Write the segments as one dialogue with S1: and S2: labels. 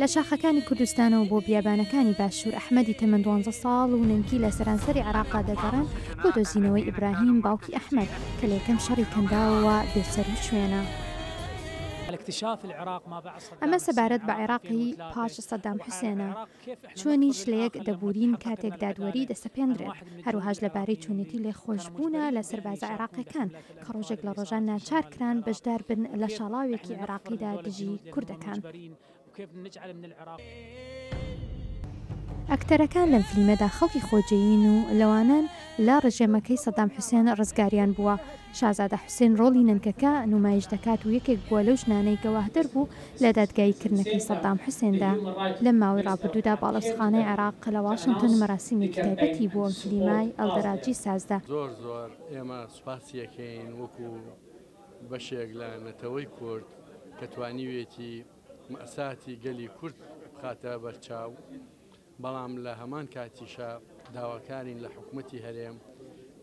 S1: لە شاخەکانی کوردستانەوە بۆ بیابانەکانی باشوور ئەحمەدی تەمەن دوانزە ساڵ و نەنکی لە سەرانسەری عراقا دەگەڕێن بۆ دۆزینەوەی ئیبراهیم باوکی ئەحمەد کە لە یەکەم شەڕی کەنداوەوە بێسەر و شوێنە. ئەمە سەبارەت بە عێراقی پاش سەدام حوسێنە چوونیش لەیەک دەبورین کاتێک دادوەری دەسەپێندرێت، هەروەهاش لەبارەی چوونێتی لێخۆشبوونە لە سەربازە عێراقیەکان کە ڕۆژێک لە ڕۆژان ناچار کران بەشدار بن لە شاڵاوێکی عێراقیدا دژی کوردەکان. ئەکتەرەکان لەم فلیمەدا خەڵکی خۆجێین و لەوانەن لە ڕژێمەکەی سەدام حوسێن ڕزگاریان بووە، شازادە حوسێن ڕۆڵی نەنکەکە نومایش دەکات و یەکێک بووە لەو ژنانەی گەواهدەر بوو لە دادگایی کردنەکەی سەدام حوسێندا. لەم ماوەی ڕابردوودا باڵەوسخانەی عێراق لە واشنتن مەراسیمێکی تایبەتی بۆ کلیمای ئەلدەراجی سازدا. زۆر زۆر ئێمە
S2: سوپاسی ئەکەین وەکو بەشێک لە نەتەوەی کورد کە توانیوێتی مەئساتی گەلی کورد بخاتە بەرچاو بەڵام لە هەمان کاتیشا داواکارین لە حکومەتی هەرێم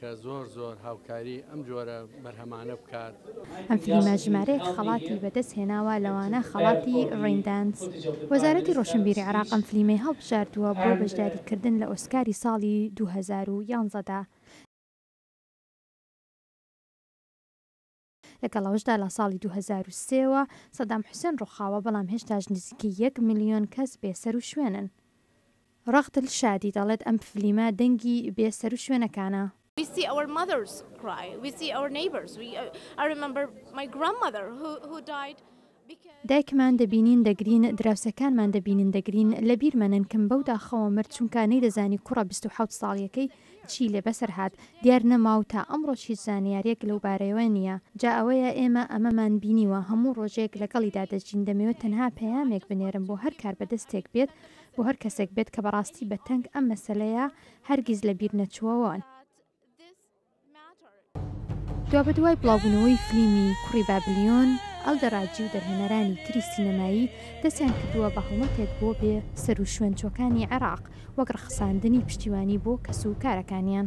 S2: کە زۆر زۆر هاوکاری ئەم جۆرە بەرهەمانە بکات. ئەم فلیمە
S1: ژمارەیەک خەڵاتی بەدەست هێناوە لەوانە خەڵاتی ڕەیندانس. وەزارەتی ڕۆشنبیری عێراق ئەم فلیمەی هەڵبژاردووە بۆ بەشداری کردن لە ئۆسکاری ساڵی دوو هەزار و یازدە دا. لەگەڵ ئەوەشدا لە ساڵی دوو هەزار و سێ وە سەدام حوسێن ڕوخاوە بەڵام هێشتاش نزیکەی یەک ملیۆن کەس بێ سەروشوێنن. ڕەق دل شادی دەڵێت ئەم فلیمە دەنگی بێ سەروشوێنەکانە. We see our
S3: mothers cry We see our neighbors We I remember my grandmother who who died. دایکمان
S1: دەبینین دەگرین دراوسێکانمان دەبینین دەگرین لەبیرمە نەنکم بەو داخەوە مرد چونکا نەیدەزانی کوڕە بیست و حەوت ساڵیەکەی چی لێ بەسەر هات دیار نەما و تا ئەمڕۆش هیچ زانیارێک لەو بارەیەوە نیە جا ئەوەیە ئێمە ئەمەمان بینیوە هەموو ڕۆژێک لەگەڵیدا دەژین دەمەوێت تەنها پەیامێک بنێرم بۆ هەر کاربەدەستێک بێت بۆ هەر کەسێک بێت کە بەڕاستی بە تەنگ ئەم مەسەلەیە هەرگیز لەبیر نەچووەوە. دوابەدوای بڵاوبوونەوەی فلیمی کوڕی بابلیۆن، ئەلدەڕاجی و دەرهێنەرانی تری سینەمایی دەستیان کردووە بە هەڵمەتێک بۆ بێ سەروشوێنچووەکانی عێراق وەک ڕەخساندنی پشتیوانی بۆ کەس و کارەکانیان.